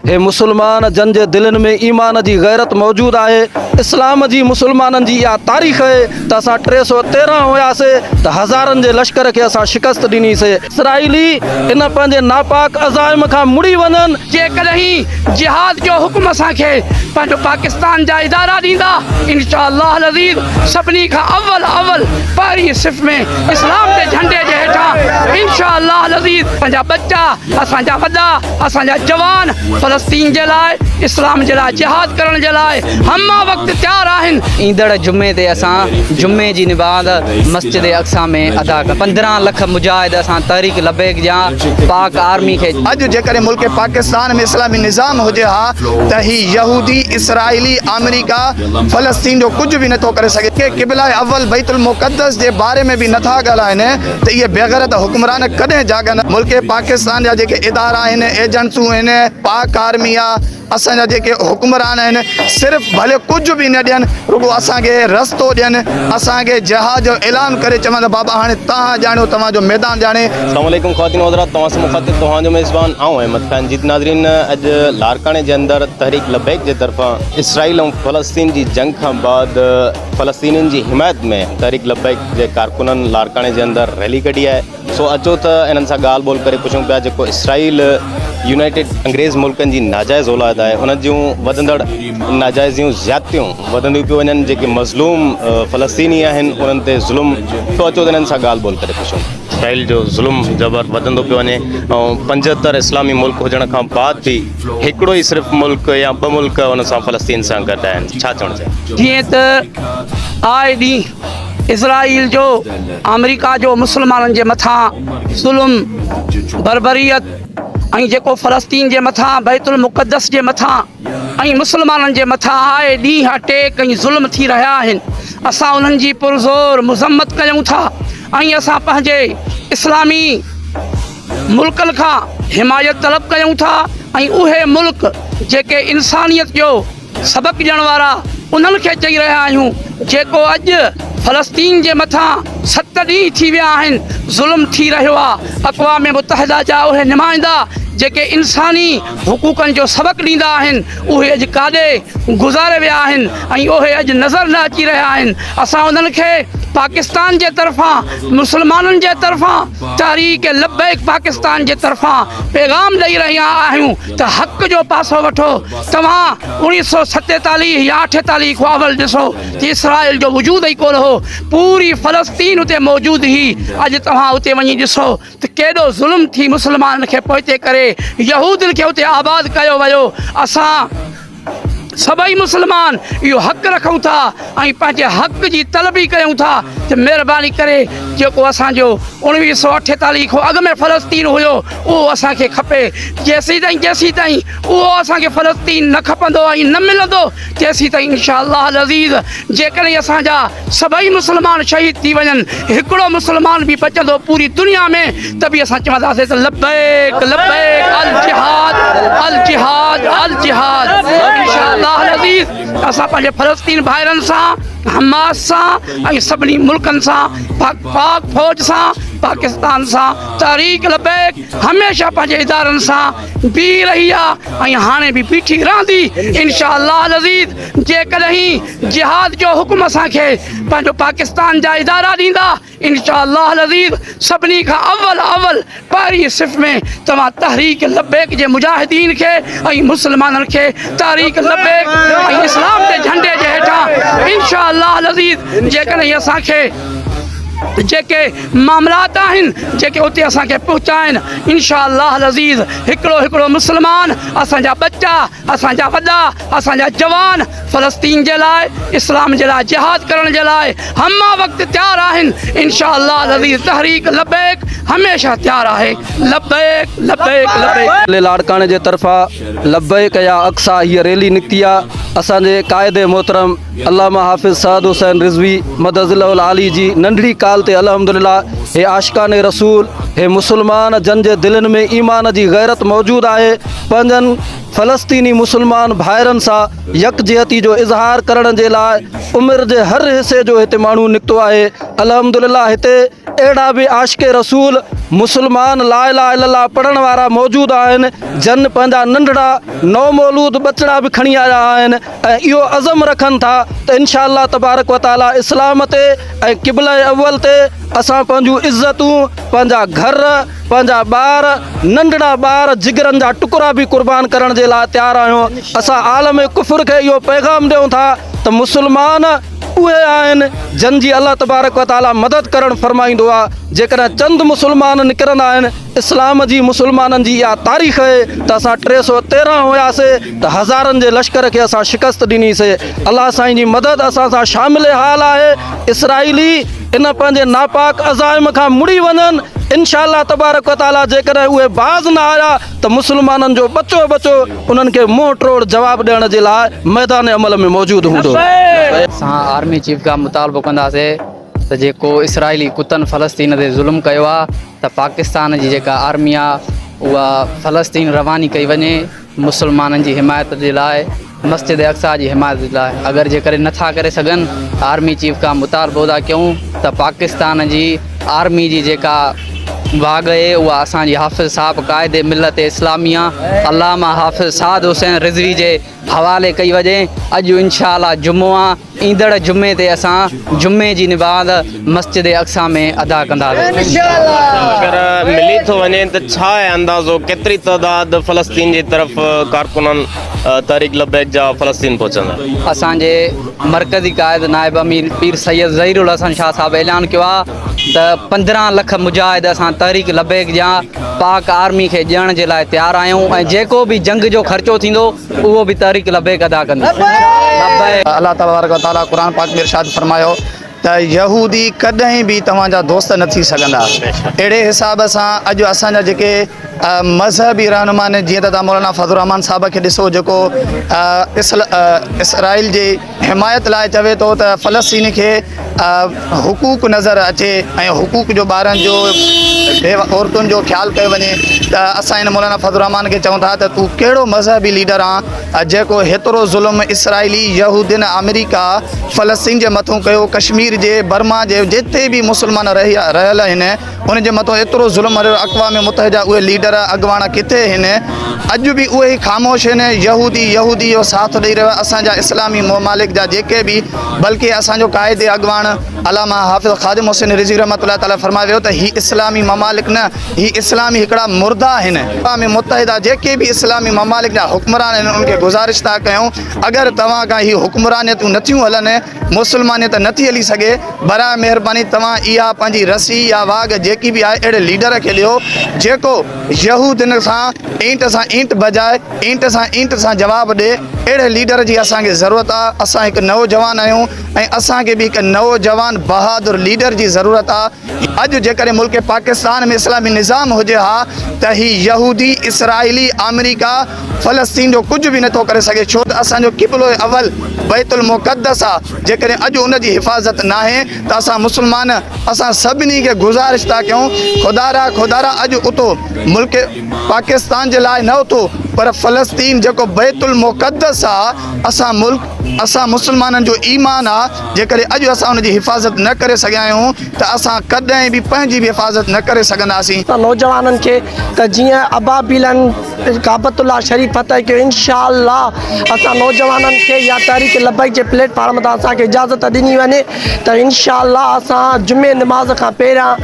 اي مسلمان! جن جي دلين ۾ ايمان جي غيرت موجود آهي. اسلام جي مسلمانن جي اها تاريخ اهي ته اسان ٽي سؤ تيرنهن هياسي ته هزارن جي لشڪر کي اسان شڪست ڏني سي. اسرائيلي ان پنهنجي ناپاڪ عزائم کان مڙي وڃن. جيڪڏهن جهاد جو حڪم اسان کي پنهنجو پاڪستان جا ادارا ڏيندا انشاء الله العزيز سڀني کان اول اول پهرين صف ۾ اسلام جي جهنڊي جي هيٺان انشاء الله العزيز پنهنجا ٻچا اسان جا وڏا اسان جا جوان فلسطين جي لاء، اسلام جي لاء جهاد ڪرڻ جي لاء همه وقت تيار آهن. ايندڙ جمعي تي اسان جمعي جي نماز مسجد اقصيٰ ۾ ادا ڪنداسين، پندرهن لک مجاهد اسان تحريڪ لبيڪ جا پاڪ آرمي کي. اڄ جيڪڏهن ملڪ پاڪستان ۾ اسلامي نظام هجي ها ته هي يهودي، اسرائيلي، آمريڪا فلسطين جو ڪجهه به نٿو ڪري سگهي. ڪي قبله اول بيت المقدس جي باري ۾ به نٿا ڳالهائين. ته اهي بيغيرت حڪمران ڪڏهن جاڳندا؟ ملڪ پاڪستان جا جيڪي ادارا آهن، ايجنسون آهن، پاڪ آرمي آ، اسان جا جيڪي حڪمران آهن، صرف ڀلي ڪجهه به نه ڏين، رڳو اسان کي رستو ڏين، اسان کي جهاد جو اعلان ڪري چون ته بابا هاڻي توهان ڄاڻيو، توهان جو ميدان ڄاڻي. اسلام عليڪم خواتين و حضرات توهان سان مخاطب توهان جو ميزبان آئون احمد خان جيت ناظرين اڄ لاڙڪاڻي جي اندر تحريڪ لبيڪ جي طرفان اسرائيل ۽ فلسطين جي جنگ کان بعد فلسطينين جي حمايت ۾ تحريڪ لبيڪ جي ڪارڪنن لاڙڪاڻي جي اندر ريلي ڪڍي آهي سو اچو ته انهن سان ڳالهه ٻولهه ڪري پڇون پيا جيڪو اسرائيل يونائيٽيڊ انگريز ملڪن جي ناجائز اولاد آهي ان جون وڌندڙ ناجائزيون زيادتيون وڌنديون پيون وڃن جيڪي مظلوم فلسطيني آهن انهن تي ظلم سو اچو ته انهن سان ڳالهه ٻولهه ڪري پڇون اسرائيل جو ظلم جبر وڌندو پيو وڃي ۽ پنجهتر اسلامي ملڪ هجڻ کان بعد به هڪڙو ئي صرف ملڪ يا ٻه ملڪ ان سان فلسطين سان گڏ آهن ڇا چوڻ چاهيو. جيئن ته آء ڏينهن اسرائيل جو آمريڪا جو مسلمانن جي مٿان ظلم بربريت ۽ جيڪو فلسطين جي مٿان بيت المقدس جي مٿان ۽ مسلمانن جي مٿان آء ڏينهن اٽيڪ ۽ ظلم ٿي رهيا آهن اسان انهن جي پرزور مذمت ڪيون ٿا ۽ اسان پنهنجي اسلامي ملڪن کان حمايت طلب ڪيون ٿا ۽ اهي ملڪ جيڪي انسانيت جو سبق ڏيڻ وارا انهن کي چئي رهيا آهيون جيڪو اڄ فلسطين جي مٿان ست ڏينهن ٿي ويا آهن ظلم ٿي رهيو آ اقوام متحده جا اهي نمائندا جيڪي انساني حقوقن جو سبق ڏيندا آهن اهي اڄ ڪاڏي گذاري ويا آهن ۽ اهي اڄ نظر نه اچي رهيا آهن اسان انهن کي پاڪستان جي طرفان مسلمانن جي طرفان تحريڪ لبيڪ پاڪستان جي طرفان پيغام ڏئي رهيا آهيون ته حق جو پاسو وٺو توهان اوڻيھ سئو ستيتاليھ يا اٺيتاليھ کان اول ڏسو ته اسرائيل جو وجود ئي ڪونه هو پوري فلسطين اتي موجود هئي اڄ توهان اتي وڃي ڏسو ته ڪيڏو ظلم ٿي مسلمانن کي پوئتي ڪري يهودين کي اتي آباد ڪيو ويو اسان سڀئي مسلمان اهو حق رکون ٿا ۽ پنهنجي حق جي طلبي ڪيون ٿا ته مهرباني ڪري جيڪو اسان جو اوڻويهه سؤ اٺيتاليهه کان اڳ ۾ فلسطين هيو اهو اسان کي کپي جيسيتائين جيسيتائين اهو اسان کي فلسطين نه کپندو ۽ نه ملندو چيسين ته انشاء الله العزيز جيڪڏهن اسان جا سڀئي مسلمان شهيد ٿي وڃن هڪڙو مسلمان به بچندو پوري دنيا ۾ ته به اسان چونداسين ته لبيڪ لبيڪ الجهاد الجهاد الجهاد انشاء الله العزيز اسان پنهنجي فلسطين ڀائرن سان حماس سان ۽ سڀني ملڪن سان پاڪ پاڪ فوج سان پاڪستان سان تحريڪ لبيڪ هميشه پنهنجي ادارن سان بيهي رهي آ ۽ هاڻي به بيٺي رهندي انشاء الله العزيز جيڪڏهن جهاد جو حڪم اسان کي پنهنجو پاڪستان جا ادارا ڏيندا انشاء الله العزيز سڀني کان اول اول پهرين صف ۾ توهان تحريڪ لبيڪ جي مجاهدين کي ۽ مسلمانن کي تحريڪ لبيڪ ۽ اسلام جي جهنڊي جي هيٺان انشاء الله العزيز جيڪڏهن اسان کي جيڪي معاملات آهن جيڪي اتي اسان کي پهتا آهن انشاء الله العزيز هڪڙو هڪڙو مسلمان اسان جا ٻچا اسان جا وڏا اسان جا جوان فلسطين جي لاء اسلام جي لاء جهاد ڪرڻ جي لاء همه وقت تيار آهن انشاء الله العزيز تحريڪ لبيڪ هميشه تيار آهي لبيڪ لبيڪ لبيڪ. علي لاڙڪاڻي جي طرفان لبيڪ يا اقصيٰ هيء ريلي نڪتي آ اسان جي قائد محترم علامه حافظ سعد حسين رضوي مدظ الله العالي جي ننڍڙي ڪال تي الحمد لله هي عاشقان رسول هي مسلمان جن جي دلين ۾ ايمان جي غيرت موجود آهي پنهنجن فلسطيني مسلمان ڀائرن سان يڪجهتي جو اظهار ڪرڻ جي لاء عمر جي هر حصي جو هتي ماڻهو نڪتو آهي الحمد لله هتي اهڙا به عاشق رسول مسلمان لا اله الا الله پڙهڻ وارا موجود آهن جن پنهنجا ننڍڙا نومولود ٻچڙا به کڻي آيا آهن ۽ اهو عزم رکن ٿا ته انشاء الله تبارڪ و تعالي اسلام تي ۽ قبله اول تي اسان پنهنجون عزتون، پنهنجا گهر، پنهنجا ٻار، ننڍڙا ٻار، جگرن جا ٽڪرا به قربان ڪرڻ جي لاء تيار آهيون. اسان عالم ڪفر کي اهو پيغام ڏيون ٿا ته مسلمان اهي آهن جن جي الله تبارڪ و تعالي مدد ڪرڻ فرمائيندو آهي، جيڪڏهن چند مسلمان نڪرندا آهن، اسلام جي مسلمانن جي اها تاريخ اهي ته اسان ٽي سؤ تيرهن هياسي ته هزارن جي لشڪر کي اسان شڪست ڏني سي الله سائين جي مدد اسان سان شامل حال آهي اسرائيلي ان پنهنجي ناپاڪ عزائم کان مڙي وڃن انشاء الله تبارڪ و تعالي جيڪڏهن اهي باز نه آيا ته مسلمانن جو ٻچو ٻچو انهن کي منهن ٽوڙ جواب ڏيڻ جي لاء ميدان عمل ۾ موجود هوندو. سان آرمي چيف کان مطالبو ڪنداسي. ته جيڪو اسرائيلي ڪتن فلسطين تي ظلم ڪيو آ ته پاڪستان جي جيڪا آرمي آ اها فلسطين رواني ڪئي وڃي مسلمانن جي حمايت جي لاء مسجد اقصيٰ جي حمايت جي لاء اگر جيڪڏهن نٿا ڪري سگهن آرمي چيف کان مطالبو ٿا ڪيون ته پاڪستان جي آرمي جي جيڪا واڳ اهي اها اسان جي حافظ صاحب قائد ملت اسلاميه علامه حافظ سعد حسين رضوي جي حوالي ڪئي وڃي اڄ انشاء الله جمعو آ ايندڙ جمعي تي اسان جمعي جي نباض مسجد اقصيٰ ۾ ادا ڪنداسين. ملي ٿو وڃي ته ڇا آهي اندازو ڪيتري تعداد فلسطين جي طرف ڪارڪنن تحريڪ لبيڪ جا فلسطين پهچندا؟ اسان جي مرڪزي قائد نائب امير پير سيد ظهير الحسن شاهه صاحب اعلان ڪيو آهي ته پندرهن لک مجاهد اسان تحريڪ لبيڪ جيان پاڪ آرمي کي ڏيڻ جي لاء تيار آهيون ۽ جيڪو به جنگ جو خرچو ٿيندو اهو به تحريڪ لبيڪ ادا ڪندو. الله تبارڪ و تعاليٰ قرآن پاڪ ۾ ارشاد فرمايو ته يهودي ڪڏهن به توهان جا دوست نه ٿي سگهندا اهڙي حساب سان اڄ اسان جا جيڪي مذهبي رهنما آهن جيئن ته توهان مولانا فضل الرحمان صاحب کي ڏسو جيڪو اسرائيل جي حمايت لاء چوي ٿو ته فلسطين کي حقوق نظر اچي ۽ حقوق جو ٻارن جو عورتن جو خيال ڪيو وڃي ته اسان هن مولانا فضل الرحمان کي چون ٿا ته تون ڪهڙو مذهبي ليڊر آن جيڪو هيترو ظلم اسرائيلي يهودين آمريڪا فلسطين جي مٿون ڪيو ڪشمير جي برما جي جتي به مسلمان رهي رهيل آهن ان جي مٿو ايترو ظلم هريو اقوام متحده جا اهي ليڊر اڳواڻ ڪٿي هن اڄ به اهي ئي خاموش هن يهودي يهودي جو ساٿ ڏئي رهيو اسان جا اسلامي ممالڪ جا جيڪي به بلڪه اسان جو قائد اڳواڻ علامه حافظ خادم حسين رضوي رحمت الله تعالي فرمايو ويو ته هي اسلامي ممالڪ نه هي اسلامي هڪڙا مرده آهن اقوام متحده جيڪي به اسلامي ممالڪ جا حڪمران آهن ان کي گذارش ٿا ڪيون اگر توهان کان هي حڪمرانيتون نٿيون هلن مسلمانيت نه ٿي هلي سگهي، براء مهرباني توهان اها پنهنجي رسي يا واڳ جيڪي به آهي اهڙي ليڊر کي ڏيو جيڪو يهودين سان اينٽ سان اينٽ بجاء اينٽ سان اينٽ سان جواب ڏي اهڙي ليڊر جي اسان کي ضرورت آ اسان هڪ نوجوان آهيون ۽ اسان کي به هڪ نوجوان بهادر ليڊر جي ضرورت آ اڄ جيڪڏهن ملڪ پاڪستان ۾ اسلامي نظام هجي ها ته هي يهودي، اسرائيلي، آمريڪا فلسطين جو ڪجهه به نٿو ڪري سگهي ڇو ته اسان جو قبلو اول بيت المقدس آ جيڪڏهن اڄ ان جي حفاظت ناهي ته اسان مسلمان اسان سڀني کي گذارش ٿا ڪيون خدا را خدا را اڄ اٿو ملڪ پاڪستان جي لاء نه اٿو پر فلسطين جيڪو بيت المقدس آ اسان ملڪ اسان مسلمانن جو ايمان آ جيڪڏهن اڄ اسان ان جي حفاظت نه ڪري سگهيا آهيون ته اسان ڪڏهن به پنهنجي به حفاظت نه ڪري سگهنداسين. ته نوجوانن کي ته جيئن ابابيلن ڪعبت الله شريف فتح ڪيو انشاء الله اسان نوجوانن کي يا تحريڪ لبيڪ جي پليٽ فارم تان اسان کي اجازت ڏني وڃي. ته انشاء الله اسان جمعي نماز کان پهريان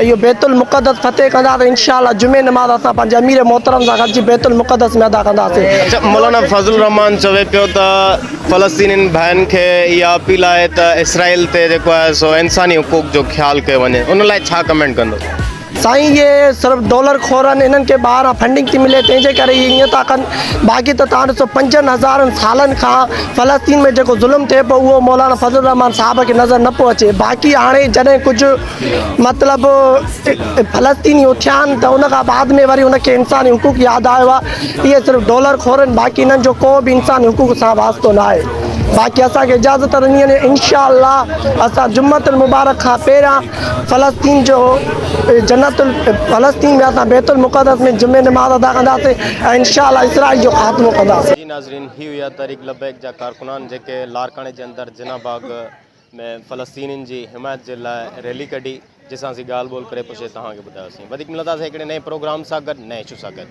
اهو بيت المقدس فتح ڪنداسين انشاء الله جمعي نماز اسان پنهنجي امير محترم سان گڏجي بيت المقدس ۾ ادا ڪنداسين مولانا فضل الرحمان چوي پيو ته فلسطينين ڀائن کي اها اپيل آهي ته اسرائيل تي جيڪو آهي سو انساني حقوق جو خيال ڪيو وڃي ان لاء ڇا ڪمينٽ ڪندو سائين اهي صرف ڊالر خور آهن انهن کي ٻاهران فنڊنگ ٿي ملي تنهن جي ڪري اهي ائين ٿا ڪن باقي ته توهان ڏسو پنجن هزارن سالن کان فلسطين ۾ جيڪو ظلم ٿئي پيو اهو مولانا فضل الرحمان صاحب کي نظر نه پيو اچي باقي هاڻي جڏهن ڪجهه مطلب فلسطيني اٿيا آهن ته ان کان بعد ۾ وري ان کي انساني حقوق ياد آيو آهي اهي صرف ڊالر خور آهن باقي انهن جو ڪو به انساني حقوق سان واسطو نه آهي باقي اسان کي اجازت ڏني وڃي انشاء الله اسان جمعتن مبارڪ کان پهريان فلسطين جو جنت فلسطين ويا ته بيت المقدس ۾ جمعي نماز ادا ڪنداسين ۽ انشاء الله اسرائيل جو خاتمو ڪنداسين. جي ناظرين هي هيا تحريڪ لبيڪ جا ڪارڪنان جيڪي لاڙڪاڻي جي اندر جناح باغ ۾ فلسطينين جي حمايت جي لاء ريلي ڪڍي جي سان اسين ڳالهه ٻولهه ڪري پڇي توهان کي ٻڌايو سين وڌيڪ ملنداسين هڪڙي نئين پروگرام سان گڏ نئين اشو سان گڏ.